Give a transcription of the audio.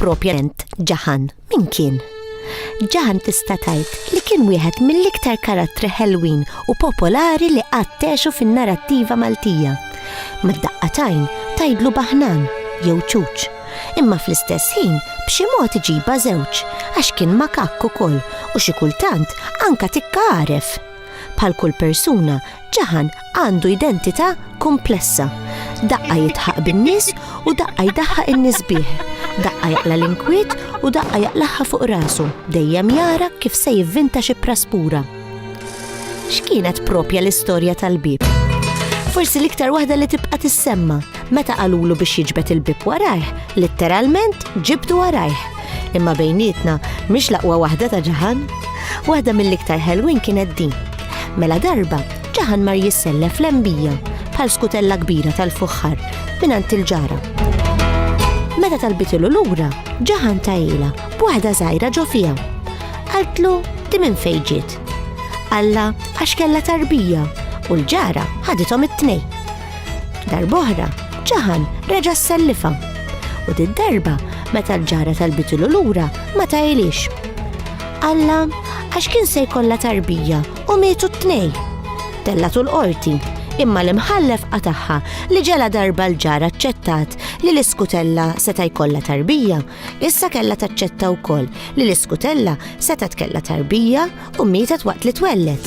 Propjament ġaħan min kien? Ġaħan tista' tgħid li kien wieħed mill-iktar karattri ħelwin u popolari li qattexu fin-narrattiva Maltija. Mad-daqqa tajn tajdlu baħnan jew ċuċ. Imma fl-istess ħin b'xi mod iġiba żewġ għax kien makakku kol u xi kultant anka tikka għaref. Bħal kull persuna Ġaħan għandu identità komplessa. Daqqa jitħaq bin-nies u daqqa jdaħħaq in-nies bih. Daqqa jaqla l-inkwiet u daqqa jaqlaħħa fuq rasu, dejjem jara kif se jivvinta xi praspura. X'kienet propja l-istorja tal-bib? Forsi l-iktar waħda li tibqa' tissemma meta qalulu biex jiġbed il-bib warajh, litteralment ġibdu warajh. Imma bejnietna mhix laqwa waħda ta' ġaħan. Waħda mill-iktar ħelwin kienet din. Mela darba ġaħan mar jissellef l-embija bħal skutella kbira tal-fuħħar minant il-ġara. Meta talbitilu lura, ġaħan tajila b'waħda żgħira ġo fija. Qaltlu di minn fejġiet. Alla għax kella tarbija u l-ġara ħadithom it-tnej. Darboħra, ġaħan reġa' sellifa. U d darba meta l-ġara talbitilu lura ma tajilix. Alla, għax kien se jkollha tarbija u mietu t-tnej. Tellatu l-qorti, imma l-imħallef qataħħa li ġela darba l-ġar aċċettat li l-iskutella seta' jkollha tarbija, issa kellha taċċetta wkoll li l-iskutella seta' tkella tarbija u mietet waqt li twellet.